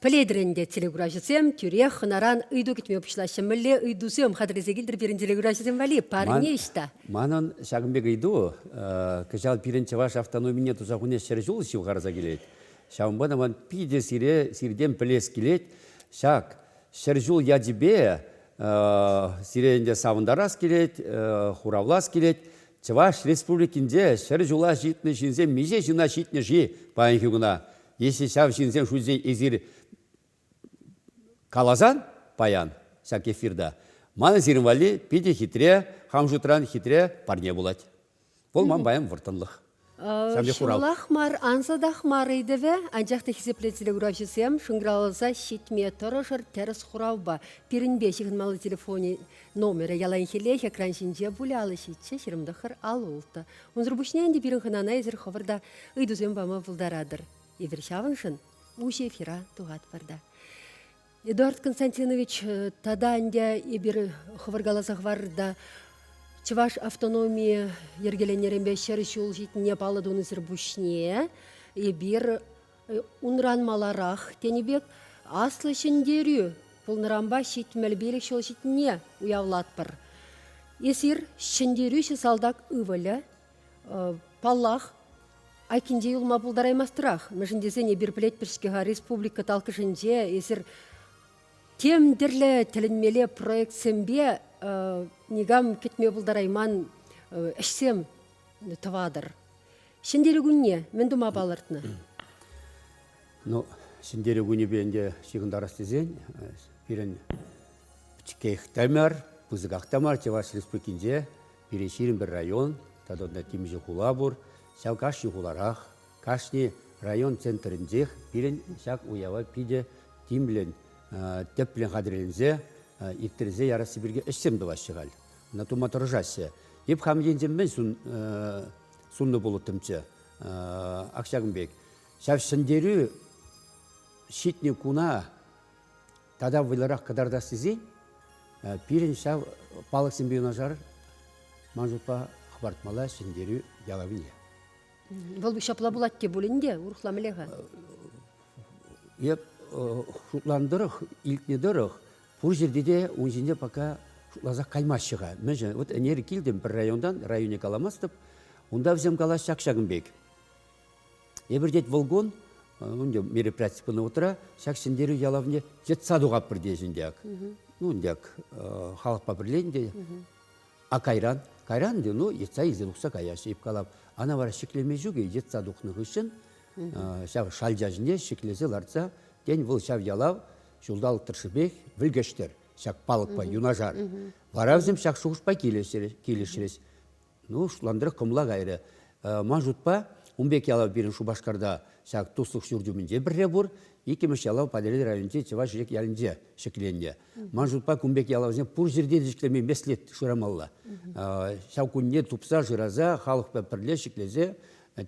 Пӗлетӗр ӗнтӗ, телекуравҫӑсем, тӳрех хӑнаран ыйту кӗтме пуҫлаҫҫӗ. Мӗнле ыйтусем хатӗрлесе килтӗр пирӗн телекуравҫӑсем валли? Парне ӑҫта? Манӑн ҫакӑн пек ыйту кӑҫал пирӗн чӑваш автономине туса хуни ҫӗр ҫул ҫывхарса килет. Ҫавӑнпа та ман питӗ сире сиртен пӗлес килет. Ҫак ҫӗр ҫул ячӗпе сире ӗнтӗ савӑнтарас килет, хуравлас килет. Чӑваш Республикинче ҫӗр ҫула ҫитнӗ ҫынсем миҫе ҫына ҫитнӗ-ши паянхи куна? Если ҫав ҫынсен шутӗнчен эсир каласан паян ҫак эфирта, манӑн сирӗн валли питӗ хитре, хам шутран хитре парне пулать. Вӑл ман паян вӑрттӑнлӑх. Ҫулах мар, ансатах мар ыйтӑвӗ, анчах та хисеплӗ телекуравҫӑсем, шӑнкӑравласа ҫитме тӑрӑшӑр тӗрӗс хуравпа. Пирӗнпе ҫыхӑнмалли телефонӗн номерӗ яланхиллех экран ҫинче пулӗ, алӑ ҫиччӗ, ҫирӗм тӑххӑр, алӑ ултӑ. Унсӑр пуҫне ӗнтӗ пирӗн хӑнана эсир хӑвӑр та ыйтусем пама пултаратӑр. Эпир ҫавӑншӑн уҫӑ эфира тухатпӑр та. Эдуард Константинович, э, тата ӗнтӗ эпир хӑвӑркаласа хӑварӑр та Чӑваш автономийӗ йӗркеленнӗренпе ҫӗр ҫул ҫитнине паллӑ тунисӗр пуҫне эпир Унран маларах тенӗ пек Аслӑ Ҫӗнтерӳ пулнӑранпа ҫитмӗл пилӗк ҫул ҫитнине уявлатпӑр. Эсир ҫӗнтерӳҫӗ салтак ывӑлӗ, паллах, айккинче юлма пултараймастӑрах. Мӗншӗн тесен эпир пӗлетпӗр-ҫке-ха республика талккӑшӗнче эсир тем тӗрлӗ тӗлӗнмелле проектсемпе никам кӗтме пултарайман ӗҫсем тӑватӑр. Ҫӗнтерӳ кунне мӗн тума палӑртнӑ? Ну, Ҫӗнтерӳ кунӗпе ӗнтӗ ҫыхӑнтарас тесен пирӗн пӗчӗкех та мар, пысӑках та мар Чӑваш Республикинче пирӗн ҫирӗм пӗр район тата унта темиҫе хула пур. Ҫав кашни хуларах, кашни район центрӗнчех пирӗн ҫак уява питӗ тимлӗн, тӗплӗн хатӗрленсе, ирттерсе ярасси пирки ӗҫсем тӑваҫҫӗ халь. Ӑна тума тӑрӑшаҫҫӗ. Эп хам енчен мӗн ҫун суннӑ пулӑттӑмччӗ ак ҫакӑн пек. Ҫав ҫӗнтерӳ ҫитнӗ куна тата вӑйлӑрах кӑтартас тесен пирӗн ҫав палӑксемпе юнашар ман шутпа хӑпартмалла ҫӗнтерӳ ялавне. Вӑл ҫапла пулать те пулин те урӑхла мӗле-ха? Эп шутлан тӑрӑх, илтнӗ тӑрӑх Пур ҫӗрте те ун ҫинче пока шутласа каймаҫҫӗ-ха. Мӗншӗн? Вот ӗнер килтӗм пӗр районтан, районне каламастӑп. Унта вӗсем калаҫ ҫак-ҫакӑн пек. Эпир, тет, волгон, унде мероприяти пынӑ утра, ҫак Ҫӗнтерӳ ялавне йӑтса тухатпӑр тейсен те ак. Ну, ӗнтӗ ак халӑхпа пӗрлен те. А кайран? Кайран те, ну, йӑтса илсе тухса каяҫҫӗ ӳпкалап. Ана вара ҫӗклеме ҫукӗ, йӑтса тухнӑ хыҫҫӑн ҫав шалча ҫине ҫӗклесе лартса, тен, вӑл ҫав ялав Ҫулталӑк тӑршшӗпех вӗлкӗштӗр ҫак палӑкпа юнашар. Вара вӗсем ҫак шухӑшпа килӗшрӗҫ. Ну, шутлантӑрах кӑмӑла кайрӗ. Ман шутпа, ун пек ялав пирӗн Шупашкарта ҫак туслӑх ҫурчӗ умӗнче пӗрре пур. Иккӗмӗш ялав Патӑрьел районӗнчи Чӑваш Ирек ялӗнче ҫӗкленнӗ. Ман шутпа, кун пек ялавсем пур ҫӗрте те ҫӗкленме меслет шырамалла. Ҫав кунне тупса шыраса, халӑхпа пӗрле ҫӗклесе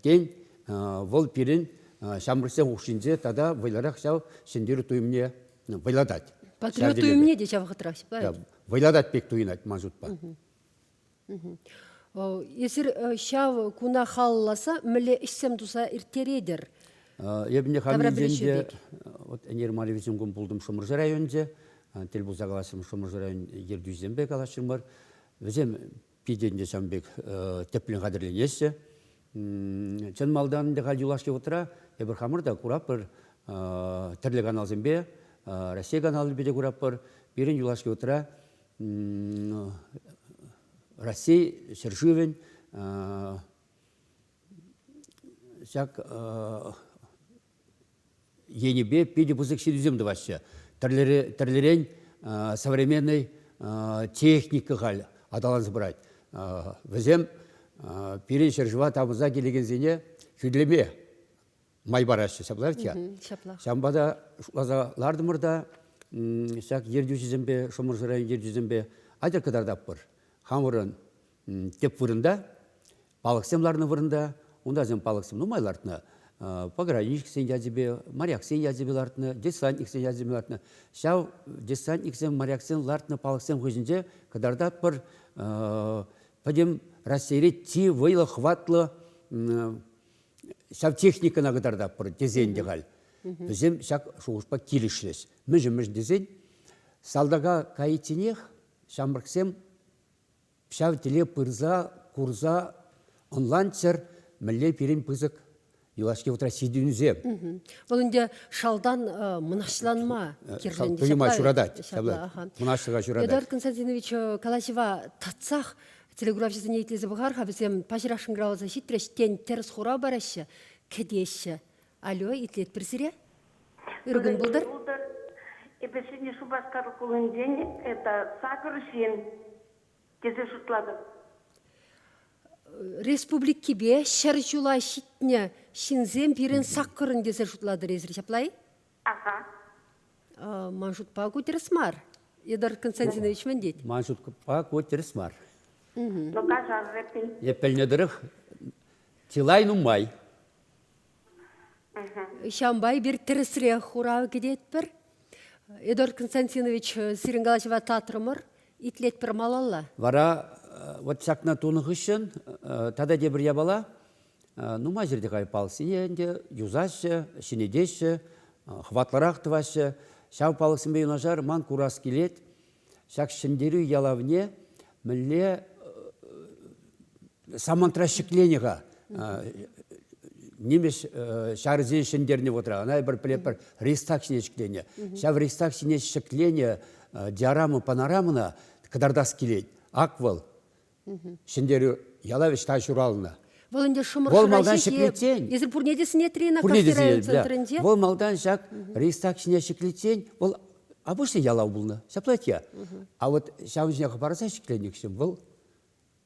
Тен, вӑл пирӗн ҫамрӑксен хушшинче тата вӑйлӑрах ҫав ҫӗнтерӳ туйӑмне вӑйлатать. Патриот туйӑмне те ҫав вӑхӑтра вӑйлатать пек туйӑнать ман шутпа. Эсир ҫав куна халалласа мӗнле ӗҫсем туса ирттеретӗр? Эпне хаминчен те вот Ӗнер Мария Визюнкун пултӑм Шӑмӑршӑ районӗнче. Тӗл пулса калаҫрӑм Шӑмӑршӑ район ертӳҫисемпе калаҫрӑмӑр. Вӗсем питӗ ӗнтӗ ҫавӑн пек тӗплӗн хатӗрленеҫҫӗ. Чӑн малтан ӗнтӗ халь юлашки вутра эпир хамӑр та куратпӑр тӗрлӗ каналсемпе Раҫҫей каналӗпе те куратпӑр. Пирӗн юлашки вутра Раҫҫей ҫӗршывӗн ҫак енӗпе питӗ пысӑк ҫитӗнӳсем тӑваҫҫӗ. Тӗрлӗрен современнӑй техника халь аталанса пырать. Вӗсем пирӗн ҫӗршыва тапӑнса килекенсене хӳтӗлеме май параҫҫӗ, ҫаплах-тя. Ҫаплах. Ҫавӑнпа та шутласа лартӑмӑр та ҫак ертӳҫӗсемпе, Шӑмӑршӑ район ертӳҫисемпе атьӑр кӑтартатпӑр. Хамӑрӑн тӗп вырӑнта Палӑксем ларнӑ вырӑнта, унтасем палӑксем нумай лартнӑ. Пограничниксен ячӗпе, моряксен ячӗпе лартнӑ, десантниксен ячӗпе лартнӑ. Ҫав десантниксен, моряксен лартнӑ палӑксем хыҫӗнче кӑтартатпӑр пӗтӗм Раҫҫейре чи вӑйлӑ, хӑватлӑ ҫав техникӑна кӑтартатпӑр тесен те халь вӗсем ҫак шухӑшпа килӗшрӗҫ. Мӗншӗн-мӗншӗн тесен салтака кайичченех ҫамрӑксем ҫав тӗле пырса курса ӑнланччӑр мӗнле пирӗн пысӑк юлашки вутра ҫитӗнӳсем. Вӑл ӗнтӗ шалтан мӑнаҫланма кирлӗ. Туйӑма ҫуратать. Мӑнаҫлӑха ҫуратать. Эдуард Константинович калаҫӑва татсах телеграфҫӑсене итлесе пӑхар-ха, вӗсем паҫӑрах шӑнкӑравласа ҫитрӗҫ, тен, тӗрӗс хура параҫҫӗ, кӗтеҫҫӗ. Алло, итлетпӗр сире? Ыркӑн пултӑр. Пултӑр. Эпӗ Ҫӗнӗ Шупашкар хулинчен это сакӑр ҫын тесе шутлатӑп. Республикипе ҫӗр ҫула ҫитнӗ ҫынсем пирӗн саккӑрӑн тесе шутлатӑр эсир ҫапла-и? Аха. Ман шутпа ку тӗрӗс мар. Эдуард Константинович мӗн тет? Ман шутпа ку тӗрӗс мар. Ну, каҫар, Репин. Эп пӗлнӗ тӑрӑх, чылай нумай. Ҫавӑнпа эпир тӗрӗсрех хурав кӗтетпӗр. Эдуард Константинович, сирӗн калаҫӑва татрӑмӑр. Итлетпӗр малалла. Вара вот ҫакна тунӑ хыҫҫӑн тата тепӗр япала. Нумай ҫӗрте палӑксене ӗнтӗ юсаҫҫӗ, ҫӗнетеҫҫӗ, хӑватлӑрах тӑваҫҫӗ. Ҫав палӑксемпе юнашар ман курас килет. Ҫак Ҫӗнтерӳ ялавне мӗнле самантра ҫӗкленӗ-ха нимӗҫ ҫарӗсен ҫӗнтернӗ вӑхӑтра ӑна эпир пӗлетпӗр ристак ҫине ҫӗкленӗ. Ҫав ристак ҫине ҫӗкленӗ диорама панорамӑна кӑтартас килет. Ак вӑл ҫӗнтерӳ ялав ӑҫта ҫуралнӑ. Вӑл ӗнтӗ Шӑмӑршӑра ҫитет. Эсир пурне те сӗнетри-и квартира центрӗнче? Вӑл малтан ҫак ристак ҫине ҫӗклетсен вӑл обычный ялав пулнӑ, ҫапла те. А вот ҫавӑн ҫине хӑпарса ҫӗкленӗ вӑл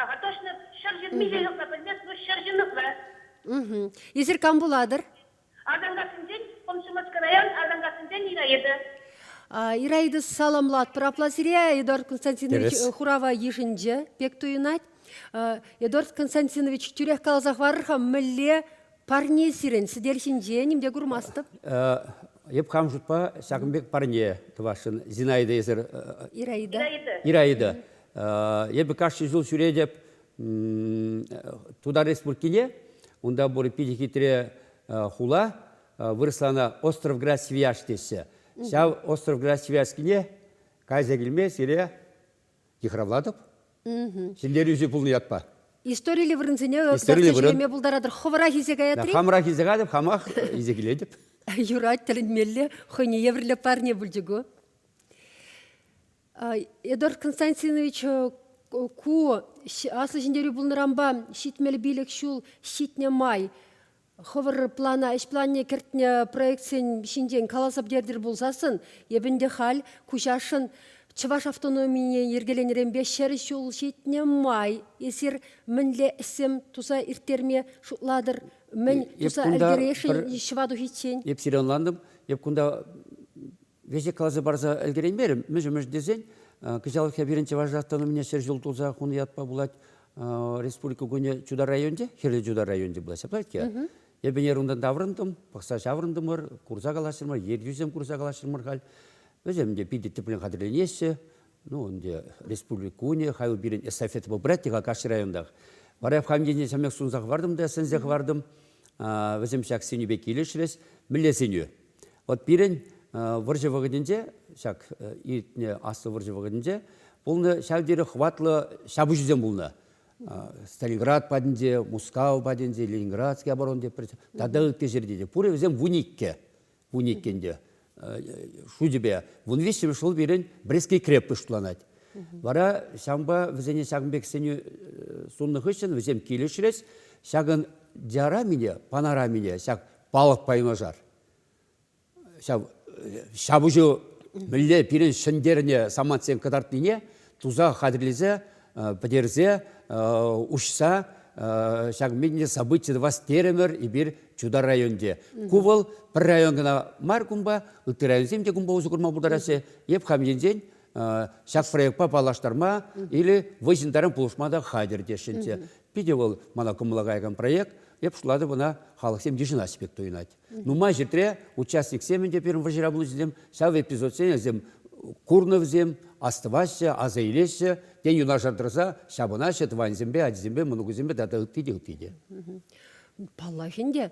Акӑ, тӑшнӑк, ҫӗр ҫынни ҫыхӑннӑ пӗлмест вӑл, ҫӗр ҫыннӑпла. Угу. Эсир кам пулатӑр? Атӑлкассинчен, Комсомольскӑраян, Атӑлкассинчен Ираида. Ираида, саламлатпӑр апла сире. Эдуард Константинович хурава йышӑнчӗ, пек туйӑнать. Эдуард Константинович, тӳрех каласа хӑварар-ха, мӗнле парне сирӗн сӗтел ҫинче, ним те курмастӑп. Эп хам шутпа ҫакӑн пек парне тӑвасшӑн, Зинаида эсир. Ираида. Ираида. Эпӗ кашни ҫул ҫӳретӗп Тутар Республикине, унта пур питӗ хитре хула, вырӑсла ӑна Островград-Свияж теҫҫӗ. Ҫав Островград-Свияжскине кайса килме сире йыхравлатӑп. Ҫӗнтерӳҫӗ пулнӑ ятпа. Историллӗ вырӑнсене ӗҫлеме пултаратӑр. Хӑвӑрах илсе каятри? Хамрах илсе катӑп, хамах илсе килетӗп. Юрать, тӗлӗнмелле хӑйне евӗрлӗ парне пулчӗ ку. Эдуард Константинович ку Аслӑ Ҫӗнтерӳ пулнӑранпа ҫитмӗл пилӗк ҫул ҫитнӗ май хӑвӑр плана, ӗҫ планне кӗртнӗ проектсен ҫинчен каласа пӗтертӗр пулсассӑн эпӗ ӗнтӗ халь куҫашӑн чӑваш автономине йӗркеленӗренпе ҫӗр ҫул ҫитнӗ май эсир мӗнле ӗҫсем туса ирттерме шутлатӑр, мӗн туса ӗлкӗресшӗн ҫӑва тухиччен? Эп сире ӑнлантӑм, эп кунта веҫе каласа парса ӗлкӗреймерӗм. Мӗш-мӗш тесен кӑҫалхи пирӗн Чӑваш Автономине ҫӗр ҫул туса хунӑ ятпа пулать республика кунӗ Чудар районӗнче, Хӗрлӗ Чудар районӗнче пулать. Ҫаплать-ҫке. Эпӗ ӗнер таврӑнтӑм, пӑхса ҫаврӑнтӑмӑр, курса калаҫрӑмӑр, ертӳсем курса калаҫрӑмӑр халь. Вӗсем те питӗ тӗплӗн хатӗрленеҫҫӗ. Ну, ӗнтӗ республика кунӗ, хай пирӗн эстафета попрать-и-ха кашни районтах. Вара эп хам енне ҫамрӑк сунса хӑвартӑм та сӗнсе хӑвартӑм. Вӗсем ҫак сӗнӳпе килӗшрӗҫ. Мӗнле сӗнӳ? Вот пирӗн вӑрҫӑ вӑхӑтӗнче, ҫак иртнӗ аслӑ вӑрҫӑ вӑхӑтӗнче, пулнӑ ҫав тери хӑватлӑ ҫапӑҫусем пулнӑ. Сталинград патӗнче, Мускав патӗнче, Ленинградский оборон теп тата ытти ҫӗрте те. Пурӗ вӗсем вун иккӗ, вун иккӗн те шучӗпе. Вун виҫҫӗмӗш ҫул пирӗн Брестский крепость шутланать. Вара ҫавӑнпа вӗсене ҫакӑн пек сӗнӳ суннӑ хыҫҫӑн вӗсем килӗшрӗҫ. Ҫакӑн диарамине, панорамине ҫак палӑкпа юнашар. Ҫав, ҫапӑҫу мӗнле пирӗн ҫӗнтернӗ самантсем кӑтартнине туса хатӗрлесе, пӗтерсе, уҫса ҫак мӗнле событие тӑвас терӗмӗр эпир Чутай районӗнче. Ку вӑл пӗр район кӑна мар кунпа, ытти районсем те кунпа усӑ курма пултараҫҫӗ. Эп хам енчен ҫак проектпа паллаштарма или вӑй ҫынтаран пулӑшма та хатӗр теҫҫӗ. Питӗ вӑл мана кӑмӑла каякан проект. Эп шутлатӑп ӑна халӑхсем йышӑнаҫ пек туйӑнать. Нумай ҫӗртре участниксем ӗнтӗ пирӗн вӑрҫӑра пулнисем ҫав эпизодсене вӗсем курнӑ вӗсем, астӑваҫҫӗ, аса илеҫҫӗ, тен юнашар тӑрса ҫапӑнаҫҫӗ тӑванӗсемпе, ачисемпе, мӑнукӗсемпе тата ытти те ытти те. Паллах ӗнтӗ.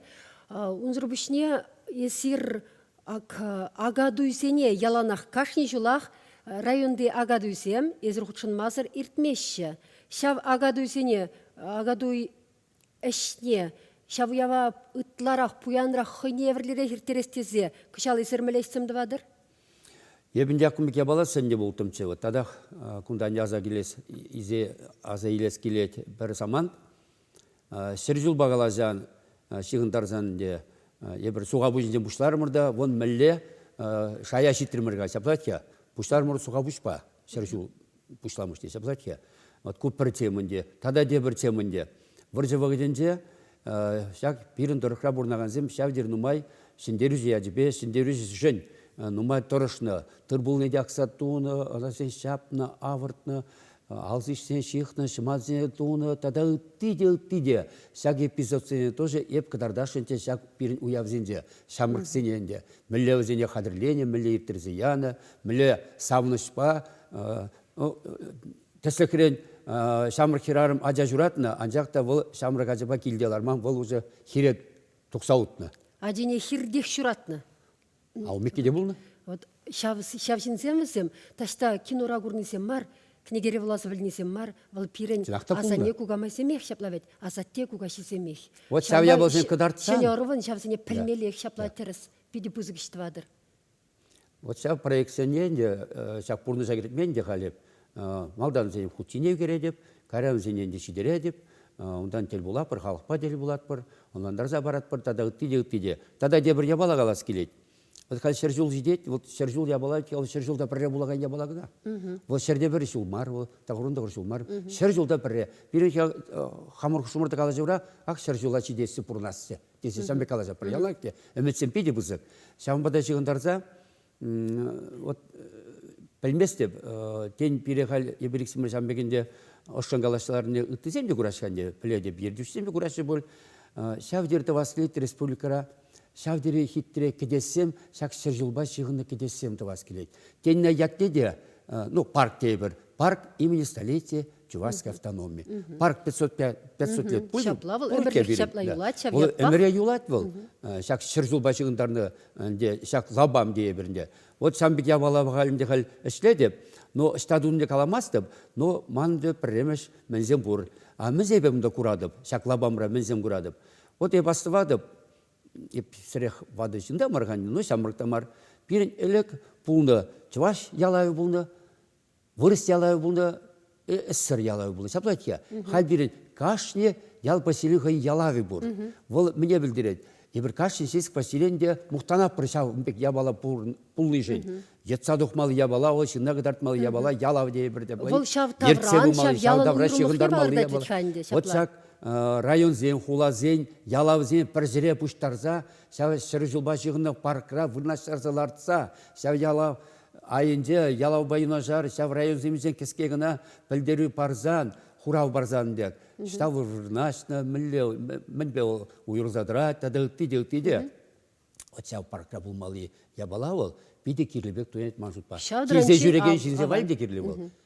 Унсӑр пуҫне эсир Акатуйсене яланах кашни ҫулах районти акатуйсем эсир хутшӑнмасӑр иртмеҫҫӗ. Ҫав акатуйсене акатуй ӗҫне ҫав уява ытларах пуянрах хӑйне евӗрлӗрех ирттерес тесе кӑҫал эсир мӗнле ӗҫсем тӑватӑр? Эпӗ ӗнтӗ кун пек япаласем те улттӑмччӗ. Татах кунтан аса килес, аса илес килет пӗр самант. Ҫӗр ҫулпа каласан, ҫыхӑнтарсан ӗнтӗ эпир сухапуҫӗнчен пуҫларӑмӑр та вон мӗнле шая ҫитрӗмӗр-ха, ҫаплать-ха, пуҫларӑмӑр сухапуҫпа ҫӗр ҫул пуҫламӑш те ҫаплать-ха. Вот ку пӗр тем ӗнтӗ. Тата тепӗр тем ӗнтӗ. Вӑрҫӑ вӑхӑтӗнче ҫак пирӗн тӑрӑхра пурӑнакансем ҫав тери нумай ҫӗнтерӳҫӗ ячӗпе ҫӗнтерӳҫӗшӗн нумай тӑрӑшнӑ. Тыр-пулне те акса тунӑ, ӑна ҫапнӑ, авӑртнӑ. алсишсене ҫыхнӑ, ҫӑматсене тунӑ тата ытти те, ытти те. Ҫак эпизодсене тоже эп кӑтартасшӑн те ҫак пирӗн уявсенче, ҫамрӑксене ӗнтӗ. Мӗнле вӗсене хатӗрленӗ, мӗнле ирттерсе янӑ, мӗнле савӑнӑҫпа тӗслӗхрен ҫамрӑк хӗрарӑм ача ҫуратнӑ, анчах та вӑл ҫамрӑк ачапа килте ларман, вӑл уже хире тухса утнӑ. Ачине хиртех ҫуратнӑ. Алмикки те пулнӑ? Вот ҫав, ҫав ҫынсем вӗсем таҫта кинора курнисем мар, кӗнекере вуласа пӗлнисем мар, вӑл пирӗн асанне-кукамайсемех ҫапла вӗт, асатте-кукаҫисемех. Вот ҫав япаласем кӑтартсан. Ҫӗнӗ ӑрӑвӑн ҫавсене пӗлмеллех ҫапла тӗрӗс питӗ пысӑк ӗҫ тӑватӑр. Вот ҫав проектсене ӗнтӗ ҫак пурнӑҫа кӗртмен те халӗ Малтан вӗсен хутине кӗретӗп, кайран вӗсене ӗнтӗ ҫитеретӗп, унтан тӗл пулатпӑр, халӑхпа тӗл пулатпӑр, ӑнлантарса паратпӑр тата ытти те, ытти те. Тата тепӗр япала калас килет. Вӑл халь ҫӗр ҫул ҫитет, вӑл ҫӗр ҫул япала, вӑл ҫӗр ҫулта пӗрре пулакан япала кӑна. Вӑл ҫӗрте пӗр ҫул мар, вӑл тӑхӑрӑн-тӑхӑр ҫул мар. Ҫӗр ҫулта пӗрре. Пирӗн хамӑр-хушӑмӑрта калаҫура ак ҫӗр ҫула ҫитессе пурӑнасчӗ, тесе сан пек калаҫатпӑр. Яланах те ӗмӗтсем питӗ пысӑк. Ҫавӑнпа та ҫыхӑнтарса Вот пӗлместӗп, тен, пире халь Ибриксимов ҫам пекенде ӑшшӑн калаҫса ларнине ыттисем те кураҫҫӗ ӗнтӗ, пӗлетӗп, ертӳҫсем те кураҫҫӗ пуль. Ҫав тери тӑваслӑ республикӑра ҫав тери хитре кӗтессем, ҫак ҫӗр ҫулпа ҫыхӑннӑ кӗтессем тӑвас килет. Теннӗ ятне те, ну, парк тейӗпӗр, парк имени столицы Чувашская автономия. Парк 505, 505 путин. Ҫапла вӑл ӗмӗрех ҫапла юлать ҫав Вӑл ӗмӗре юлать вӑл. Ҫак ҫӗр ҫулпа ҫыхӑнтарнӑ ӗнтӗ ҫак лапам тейӗпӗр ӗнтӗ. Вот ҫам пек явала халь ӗнтӗ халь ӗҫлетӗп, но ӑҫта тунне каламастӑп, но ман ӗнтӗ пӗрремӗш мӗнсем пур. А мӗнсемпе унта куратӑп, ҫак лапамра мӗнсем куратӑп. Вот эп астӑватӑп, эп сӗрех ватӑ ҫын та мар хан, но ҫамрӑк та мар. Пирӗн ӗлӗк пулнӑ, чӑваш ялавӗ пулнӑ, вырӑс ялавӗ пулнӑ, ӗссӗр ялавӗ пулнӑ. Ҫапла тет-ха, халь пирӗн кашни ял поселенийӗ хӑйӗн ялавӗ пур. Вӑл мӗне пӗлтерет? Эпир кашни ҫеҫ поселение мухтанатпӑр ҫав ун пек япала пулнишӗн. Йӑтса тухмалли япала, вӑл ҫынна кӑтартмалли япала, ялав тейӗпӗр те. Вӑл ҫав тавран, ҫав ялӑн уйрӑмлӑхне палӑртать ӗччен те. Вот ҫак районсен, хуласен ялавсене пӗр ҫӗре пуҫтарса, ҫав ҫӗр ҫулпа ҫыхӑннӑ паркра вырнаҫтарса лартса, ҫав ялав айӗнче ялавпа юнашар ҫав районсемсен кӗске кӑна пӗлтерӳ парсан, хурав парсан пек, ҫав вырнаҫнӑ, мӗнле, мӗнпе уйрӑлса тӑрать тата ытти те, ытти те. Вот ҫав паркра пулмалли япала вӑл питӗ кирлӗ пек туянать ман шутпа. Ҫав Ҫирсе ҫӳрекен ҫынсем валли те кирлӗ вӑл.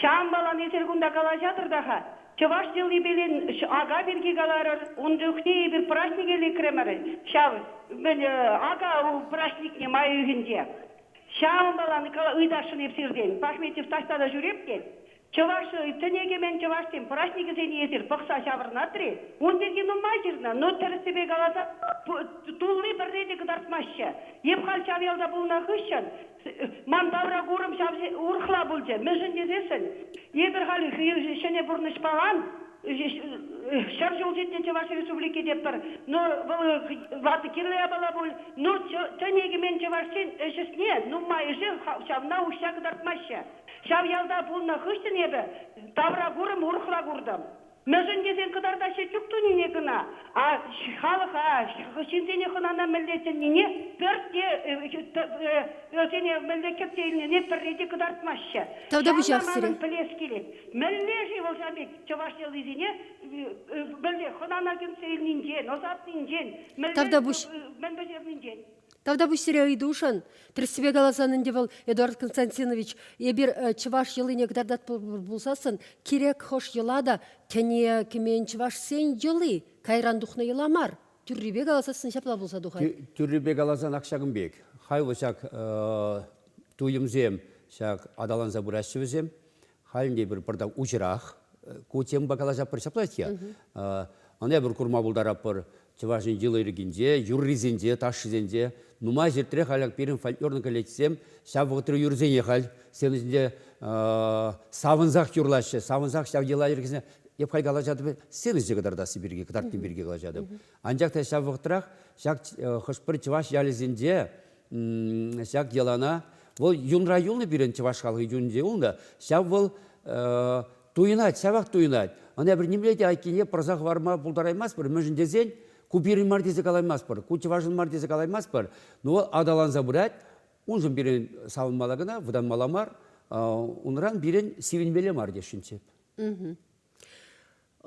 Ҫаӑмпаланисӗр кунта калаҫатӑр та-ха. Чӑваш йӑлипелен ака пирки каларӑр. Ун чухне эпир праҫнике лекрӗмӗр ҫав. Мӗн, ака праҫникне май уйӑхӗнче ҫаӑмпалани ыйтасшӑн эп сиртен. Пахметьев таҫта та ҫӳреп тет. Чӑваш тӗне-кӗмен чӑвашсен праҫникӗсене эсир пӑхса ҫаврӑнат-ри. Ун пирки нумай ҫырнӑ. Ну, тӗрӗссипе каласан, тулли пӗрре те кӑтартмаҫҫӗ. Эп халь ҫав ялта пулнӑ хыҫҫӑн Ман тавракурӑм ҫав урӑхла пулчӗ. Мӗншӗн тесессӗн эпир халӗ ҫӗнӗ пурнӑҫ паман. Ҫӗр ҫулҫитнӗ Чӑваш Республики тетпӗр. Но вӑл ватӑ кирлӗ япала пуль. Но тӗне кӗмен чӑвашсен ӗҫ ӗҫне нумайӑшӗ ҫавна уҫса кӑтартмаҫҫӗ. Ҫав ялта пулнӑ хыҫҫӑн эпӗ тавракурӑм урӑхла куртӑм. Мӗншӗн тесен кӑтартаҫҫӗ чӳк тунине кӑна, а халӑха, ҫынсене хӑнана мӗнле чӗннине пӗртте, вӗсене мӗнле кӗтсе илнине пӗрре те кӑтартмаҫҫӗ. Тата вӑҫахсӑрӗ. Пӗлес килет, мӗнле-ши вӑл ҫав пек чӑваш йӑлисене мӗнле хӑнана кӗтсе илнинчен, ӑсатнинчен, мӗнле мӗн пӗҫернинчен. Тавтапуҫсере ыйтушӑн, тӗрӗссипе каласан ӗнтӗ вӑл, Эдуард Константинович, эпир чӑваш йӑлине кӑтартатпӑр пулсассӑн, кирек хӑш йӑла та тӗне кӗмен чӑвашсен йӑли кайран тухнӑ йӑла мар. Тӳррипе каласассӑн ҫапла пулса тухать. Тӳррипе каласанах ҫакӑн пек. Хайлӑ ҫак туйӑмсем ҫак аталанса пыраҫҫӗ вӗсем. Халӗ те пӗр пӑртак уҫӑрах. Ку темӑпа калаҫатпӑр ҫапла-ҫке. Ӑнепӗр курма пултаратпӑр. Чӑваш Ен йӑли-йӗркинче, юррисенче, ташшисенче нумай ҫӗртре халь пирӗн фольклорнӑй коллективсем ҫав вӑхӑтри юрӑсене халь сцена ҫинче савӑнсах юрлаҫҫӗ, савӑнсах ҫав йӑла-йӗркесене эп халь калаҫатӑп, сцена ҫине кӑтартасси пирки, кӑтартни пирки калаҫатӑп. Анчах та ҫав вӑхӑтрах ҫак хӑш-пӗр чӑваш ялӗсенче ҫак йӑлана вӑл юнра юлнӑ пирӗн чӑваш халӑхӗ юнӗнче юлнӑ ҫав вӑл туйӑнать ҫавах туйӑнать ӑна пӗр нимле те айккине пӑрса хӑварма пултараймастпӑр мӗншӗн тесен ку пирӗн мар тесе калаймастпӑр ку чӑвашӑн мар тесе калаймастпӑр но вӑл аталанса пырать уншӑн пирӗн савӑнмалла кӑна вӑтанмалла мар унран пирӗн сивӗнмелле мар тесшӗнччӗ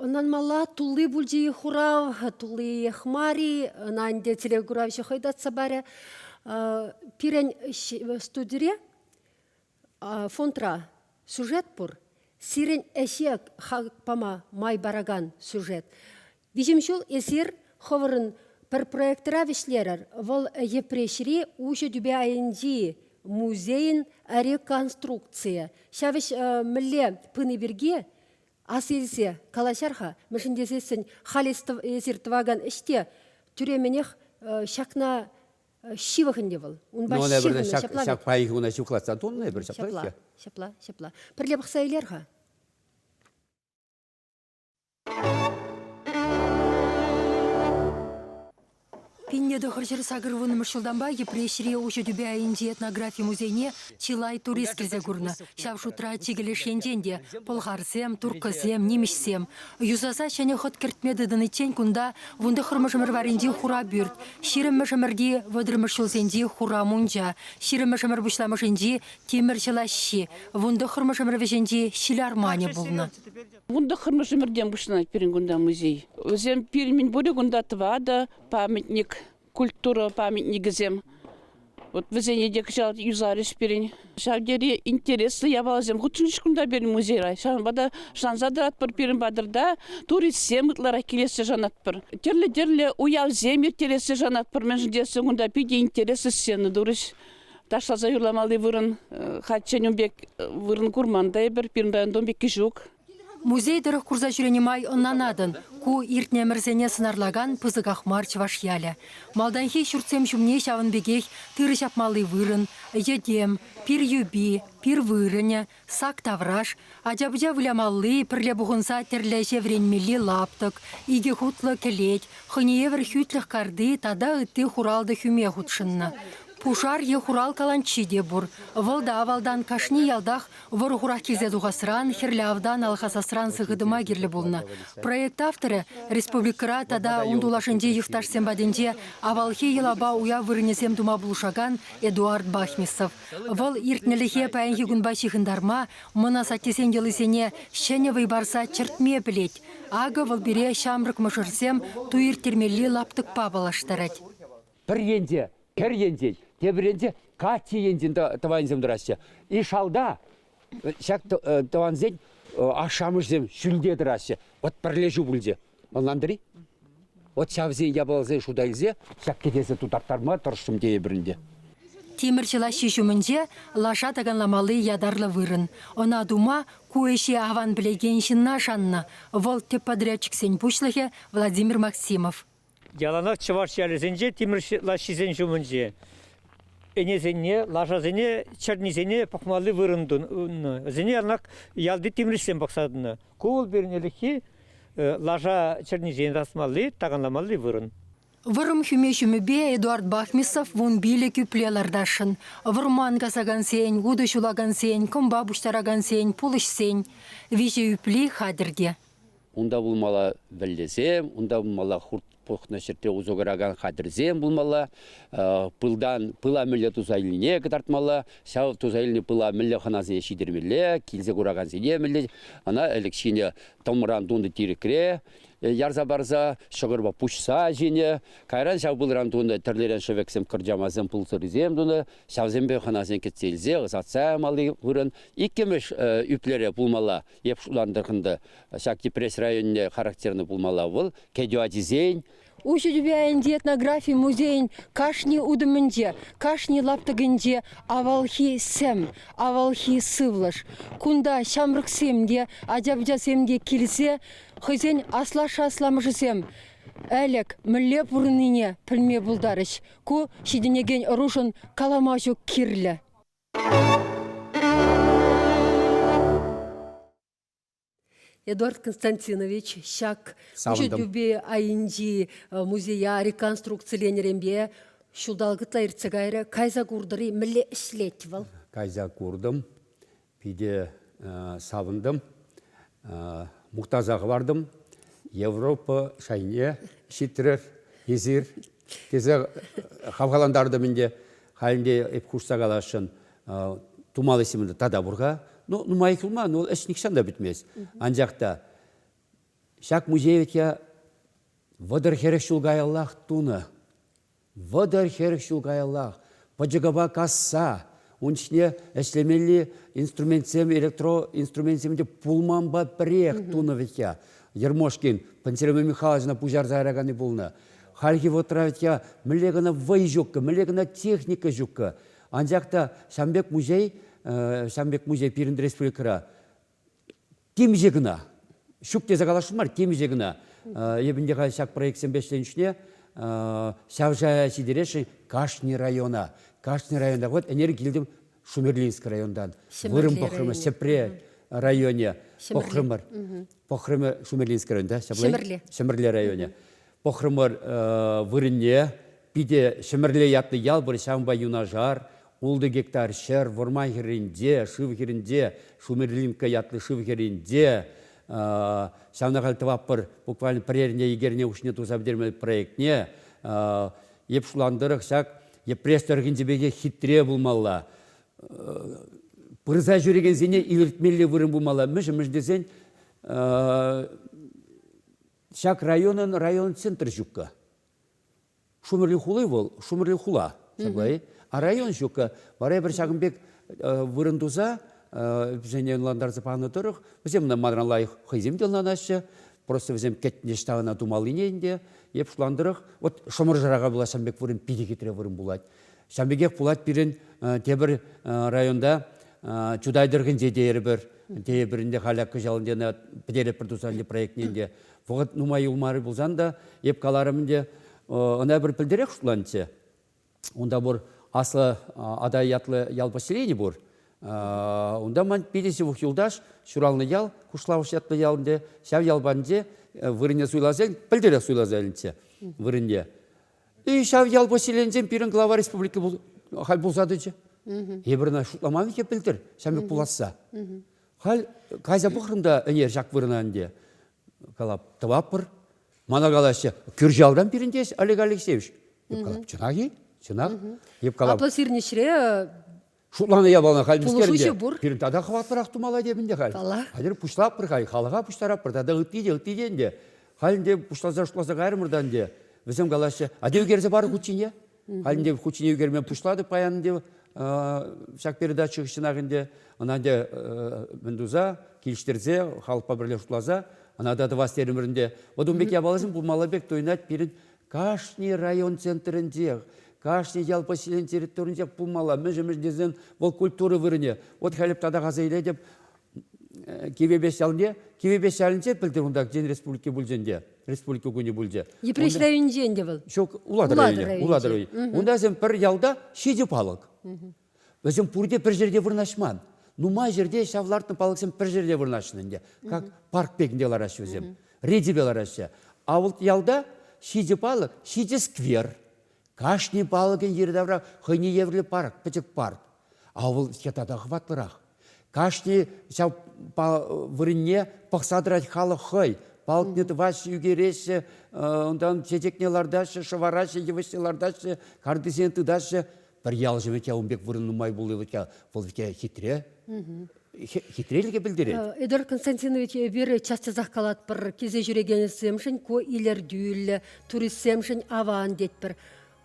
Ӑнланмалла тулли пулчӗ-и хурав, тулли-иех мар-и, ӑна ӗнтӗ телекуравҫӑ хӑй татса парӗ. Пирӗн студире фонтра сюжет пур. Сирӗн ӗҫе хак пама май паракан сюжет. Виҫӗм ҫул эсир хӑвӑрӑн пӗр проектра вӗҫлерӗр. Вӑл Йӗпреҫри Уҫӑ тӳпе айӗнчи музейӗн реконструкцийӗ. Ҫав ӗҫ мӗнле пыни пирки Ас илсе калаҫар-ха, мӗншӗн тесессӗн халь эсир тӑвакан ӗҫ те тӳременех ҫакна ҫывӑх ӗнтӗ вӑл. Унпа ну, ҫыхӑннӑ ҫак, ҫапла ҫак паянхи куна ҫуклатса тунӑ эпир ҫапла. Ҫапла, ҫапла, ҫапла. Пӗрле пӑхса илер-ха. Пинне тӑхӑр ҫӗр сакӑрвуннӑмӗш ҫултанпа Йӗпреҫри уҫӑ тӳпе айӗнчи этнографи музейне чылай турист килсе курнӑ. Ҫав шутра чикӗ леш енчен те пӑлхарсем, турккӑсем, нимӗҫсем. Юсаса ҫӗнӗ хӑт кӗртме тытӑниччен кунта вун тӑххӑрмӗшӗмӗр варринчи хура пӳрт, ҫирӗммӗшӗмӗрти вӑтӑрмӗш ҫулсенчи хура мунча, ҫирӗммӗшӗмӗр пуҫламӑшӗнчи тимӗр ҫӑлаҫҫи, вун тӑххӑрмӗшӗмӗр вӗҫӗнчи ҫил арманӗ пулнӑ. Вун тӑххӑрмӗш ӗмӗртен пуҫланать пирӗн кунта музей. Вӗсем пирӗн пурӗ кунта тӑватӑ памятник, культура памятникӗсем. Вот вӗсене те кӑҫал юсарӗҫ пирӗн. Ҫав тери интереслӗ япаласем хутшӑнчӗҫ кунта пирӗн музейра. Ҫавӑнпа та шанса тӑратпӑр пирӗн патӑрта туристсем ытларах килессе шанатпӑр. Тӗрлӗ-тӗрлӗ уявсем ирттерессе шанатпӑр, мӗншӗн тесен кунта питӗ интереслӗ сцена турӗҫ. Ташласа юрламалли вырӑн хальччен ун пек вырӑн курман та эпир. Пирӗн районта ун пекки ҫук. Музей тӑрӑх курса ҫӳренӗ май ӑнланатӑн, ку иртнӗ ӗмӗрсене сӑнарлакан пысӑках мар чӑваш ялӗ. Малтанхи ҫуртсем ҫумне ҫавӑн пекех тырӑ ҫапмалли вырӑн, йӗтем, пир юпи, пир вырӑнӗ, Сак тавраш, ача-пӑча вылямалли, пӗрле пухӑнса тӗрлӗ ӗҫе вӗренмелли лаптӑк, икӗ хутлӑ кӗлет, хӑйне евӗр хӳтлӗх карти тата ытти хуралтӑ хӳме хутшӑннӑ. Пушар е хурал каланччи те пур. Вӑл та авалтан кашни ялтах вӑрӑ-хурах килсе тухасран, хӗрлӗ автан алхасасран сыхӑтӑма кирлӗ пулнӑ. Проект авторӗ республикӑра тата ун тулашӗнчи юхташсем патӗнче авалхи йӑлапа уяв вырӑнӗсем тума пулӑшакан Эдуард Бахмисов. Вӑл иртнӗлӗхе паянхи кунпа ҫыхӑнтарма мӑн асаттесен йӑлисене ҫӗнӗ вӑй парса чӗртме пӗлет. Акӑ вӑл пире ҫамрӑк мӑшӑрсем ту ирттермелли лаптӑкпа паллаштарать. Пӗр енче кӗр енчен, тепӗр енче каччӑ енчен тӑванӗсем тӑраҫҫӗ. И шалта Ҫак тӑвансен ашшӗ-амӑшӗсем ҫӳлте тӑраҫҫӗ. Вот пӗрле ҫу пулчӗ. Ӑнлантӑр-и? Вот ҫавсен япаласен шута илсе ҫак кӗтесе тутарттарма тӑрӑшрӑм тейӗпӗр ӗнтӗ. Тимӗрчӗ лаҫҫи ҫумӗнче лаша таканламалли ятарлӑ вырӑн. Ӑна тума ку ӗҫе аван пӗлекен ҫынна шаннӑ, вӑл тӗп подрядчиксен пуҫлӑхӗ Владимир Максимов. Яланах чӑваш ялӗсенче тимӗр лаҫҫисен ҫумӗнче ӗнесене, лашасене, чӗрнисене пӑхмалли вырӑн тунӑ. Вӗсене яланах ялти тимӗрҫсем пӑхса тӑнӑ. Ку вӑл пирӗн ӗлӗкхи лаша чӗрнисене тасмалли, таканламалли вырӑн. Вӑрӑм хӳме ҫумӗпе Эдуард Бахмисов вун пилӗк ӳпле лартасшӑн. Вӑрман касакансен, утӑ ҫулакансен, кӑмпа пуҫтаракансен, пулӑҫсен. Виҫӗ ӳпли хатӗр те. Унта пулмалла вӗллесем, унта пулмалла хурт пухнӑ ҫӗрте усӑ куракан хатӗрсем пулмалла, пылтан, пыла мӗлле туса илнине кӑтартмалла, ҫав туса илнӗ пыла мӗнле хӑнасене ҫитермелле, килсе куракансене мӗнле, ӑна ӗлӗк ҫинӗ тӑмран тунӑ тирӗкре ярса парса, ҫӑкӑрпа пуҫса ҫинӗ, кайран ҫав пылран тунӑ тӗрлӗрен шӗвексем, кӑрчамасем, пулсӑррисем тунӑ, ҫавсемпе хӑнасене кӗтсе илсе ӑсатса ямалли вырӑн. Иккӗмӗш ӳплере пулмалла Эп шулантӑрхӑн та ҫак Йӗпреҫ районне характерно пулмалла вӑл, кӗтӳ ачисен, Уҫӑ тӳпе айӗнчи этнографи музейӗн кашни утӑмӗнче, кашни лаптӑкӗнче авалхи сӗм, авалхи сывлӑш. Кунта ҫамрӑксем те, ача-пӑчасем те килсе хӑйсен аслашшӗ-асламӑшӗсем ӗлӗк мӗнле пурӑннине пӗлме пултарӗҫ. Ку ҫитӗнекен ӑрушӑн калама ҫук кирлӗ. Эдуард Константинович ҫак ӳчӗтӳпе айӗнчи музея реконструкциленӗренпе ҫулталӑк ытла иртсе кайрӗ. Кайса куртӑр-и? Мӗнле ӗҫлет вӑл? Кайса куртӑм, питӗ савӑнтӑм, мухтаса хӑвартӑм. Европа шайне ҫитрӗр эсир. тесе хавхалантартӑм ӗнтӗ. Халь ӗнтӗ эп хушса каласшӑн тумалли ҫимӗнтӗ тата пур-ха. Ну, нумай туман, вӑл ӗҫ нихҫан та пӗтмест. Анчах та ҫак музей вӗт я вӑтӑр-хӗрӗх ҫул каяллах тунӑ. Вӑтӑр-хӗрӗх ҫул каяллах пӑчӑкӑпа касса Ун ҫине ӗҫлемелли инструментсем, электроинструменtsем те пулманпа пӗрех тунӑ вӗт я. Ермошкин Пантелеймон Михайловична пуҫарса яраканни пулнӑ. Хальхи вӑхӑтра вӗт я мӗнле кӑна вӑй ҫуккӑ, мӗнле кӑна техника ҫуккӑ. Анчах та ҫам пек музей, ҫам пек музей пирӗн республикӑра темиҫе кӑна ҫук тесе каласшӑн мар темиҫе кӑна эпӗ ӗнтӗ халь ҫак проектсемпе ӗҫленӗ чухне ҫавҫая ҫитересшӗн кашни района кашни районта вот ӗнер килтӗм шумерлинск районтан вырӑн пӑхрӑмӑр Ҫӗпре районӗ пӑхрӑмӑр пӑхрӑмӑр Шумерлинск районта ҫӗмӗрле районӗ пӑхрӑмӑр вырӑнне Питӗ Ҫӗмӗрле ятлӑ ял пур, ҫавӑнпа юнашар ултӑ гектар ҫӗр, вӑрман хӗрринче, шыв хирӗнче, Шумерлинка ятлӑ шыв хӗрринче, ҫавна халь тӑватпӑр, буквально пӗр эрне икӗ эрне хушшине туса пӗтермелли проектне, эп шутланӑ тӑрӑх ҫак Йӗпреҫ тӑрӑхӗнчи пекех хитре пулмалла. Пырса ҫӳрекенсене илӗртмелли вырӑн пулмалла. Мӗншӗн тесен ҫак районӑн район центрӗ ҫуккӑ. Шумӑрли хули вӑл Шумӑрли хула, саплай. А район ҫуккӑ. Вара эпир ҫакӑн пек вырӑн туса вӗсене ӑнлантарса панӑ тӑрӑх вӗсем манран лайӑх хӑйсем те ӑнланаҫҫӗ. Просто вӗсем кӗтнӗ ҫтавана тумаллине ӗнтӗ. Эп шутлан тӑрӑх, вот Шӑмӑршӑра пулас ҫавӑн пек вырӑн питӗ хитре вырӑн пулать. Ҫавӑн пекех пулать пирӗн тепӗр районта Чутай тӑрӑхӗнче тейӗпӗр. Тейӗпӗр ӗнтӗ халӗ кӑҫал ӗнтӗ пӗтеретпӗр туса проектне ӗнтӗ. Вӑхӑт нумай юлмарӗ пулсан та эп каларӑм ӗнтӗ, ӑна пӗр пӗлтӗрех шутланчӗ. Унта пур аслӑ Атай ятлӑ ял поселени пур. Унта ман питӗ ҫывӑх юлташ ҫуралнӑ ял, Кушлавӑш ятлӑ ялӗнче, ҫав ял патӗнче вырӑнне суйласа, пӗлтӗрех суйласа илнӗччӗ вырӑнне. И ҫав ял поселенинчен пирӗн глава республика халь пулса тӑчӗ. Эпир ӑна шутламан те пӗлтӗр, ҫамрӑк пуласса. Халь кайса пӑхрӑм та ӗнер ҫак вырӑна ӗнтӗ. Калап, тӑваппӑр. Мана калаҫҫӗ, кӳршалран пирӗн тес Олег Алексеевич. Эп калап, чӑнах-и? Чӑнах. Эп калап. Аплӑ сирӗнӗҫре Шутланӑ япала халь мӗскер ӗнтӗ. Пирӗн тата хӑватлӑрах тумалла тем ӗнтӗ халь. Хатӗр пуҫлатпӑр халь, халӑха пуҫтараппӑр тата ытти те, ытти те ӗнтӗ. Халь ӗнтӗ пуҫласа-шутласа кайрӑмӑр та ӗнтӗ. Вӗсем калаҫҫӗ, а те ӳкерсе парӑр куччине. Ӗнтӗ хутчене ӳкерме пуҫлатӑп паян ӗнтӗ ҫак передача хыҫҫӑнах ӗнтӗ ӑна ӗнтӗ мӗн туса килӗштерсе халӑхпа пӗрле шутласа ӑна та тӑвас терӗмӗр ӗнтӗ. Вот ун пек япаласем пулмалла пек туйӑнать пирӗн кашни район центрӗнчех, кашни ял поселенийӗн территорийӗнче пулмалла. Мӗншӗн мӗншӗн тесен вӑл культура вырӑнӗ. Вот халӗ татах аса илетӗп, Кивӗпес ялне, Кивӗпес ялӗнче пӗлтӗр унта Тен республики пулчӗ ӗнтӗ, республика кунӗ пулчӗ. Йӗпреҫ районӗнче ӗнтӗ вӑл? Ҫук, Улатӑр районӗнче. Улатӑр районӗнче. Унта вӗсем пӗр ялта ҫичӗ палӑк. Вӗсем пурте пӗр ҫӗрте вырнаҫман. Нумай ҫӗрте ҫав лартнӑ палӑксем пӗр ҫӗрте вырнаҫнӑ ӗнтӗ. Как парк пекінде лараҫҫӗ вӗсем, рейдӗпе лараҫҫӗ. А вот ялта ҫичӗ палӑк, ҫичӗ сквер. Кашни палӑкӗн йӗри-тавра хӑйне евӗрлӗ парк, пӗчӗк парк. Ав вӑл те тата хӑватлӑрах. Кашни ҫав вырӑнне пӑхса тӑрать халӑх хӑй. Палтне тӑваҫҫӗ, ӳкереҫҫӗ, унтан чечекне лартаҫҫӗ, шӑвараҫҫӗ, йывӑҫне лартаҫҫӗ, картисене тытаҫҫӗ. Пӗр ялҫӑ вӗт ун пек вырӑн нумай пулли вӗт вӑл вӗт хитре. Хитрелӗхе пӗлтерет. Эдуард Константинович, эпир час-часах калатпӑр килсе ҫӳрекенсемшӗн ку илӗртӳллӗ, туристсемшӗн аван тетпӗр.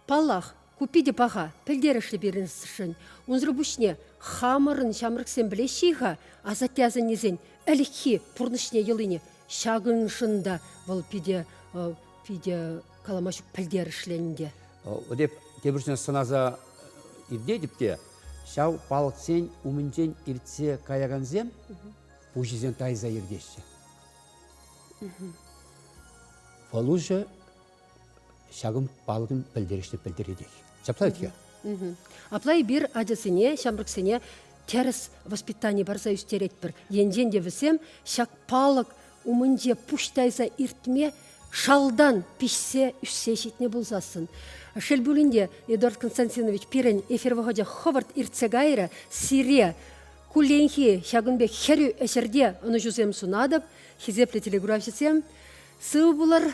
Паллах, ку питӗ паха, пӗлтерӗшлӗ пирӗншӗн. Унсӑр пуҫне хамӑрӑн ҫамрӑксем пӗлеҫҫӗ-и-ха асатте-асаннесен ӗлӗкхи пурнӑҫне йӑлине? Ҫакӑншӑн та вӑл питӗ, питӗ калама ҫук пӗлтерӗшлӗ ӗнтӗ. Эп тепӗр ҫынна сӑнаса иртетӗп те, ҫав палӑксен умӗнчен иртсе каякансем пуҫӗсен тайса иртеҫҫӗ. Фалуша ҫакӑн палӑкӗн пӗлтерӗшне пӗлтеретех. Ҫапла вӗт-ха. Апла эпир ачасене, ҫамрӑксене тӗрӗс воспитани парса ӳстеретпӗр. Енчен те вӗсем ҫак палӑк умӗнче пуҫ тайса иртме шалтан пиҫсе ӳссе ҫитнӗ пулсассӑн. Шел пулин те, Эдуард Константинович, пирӗн эфир вӑхӑчӗ хӑвӑрт иртсе кайрӗ. Сире кулленхи ҫакӑн пек хӗрӳ ӗҫӗрте ӑнӑҫусем сунатӑп, хисеплӗ телеграфҫӑсем. Сыв пулӑр,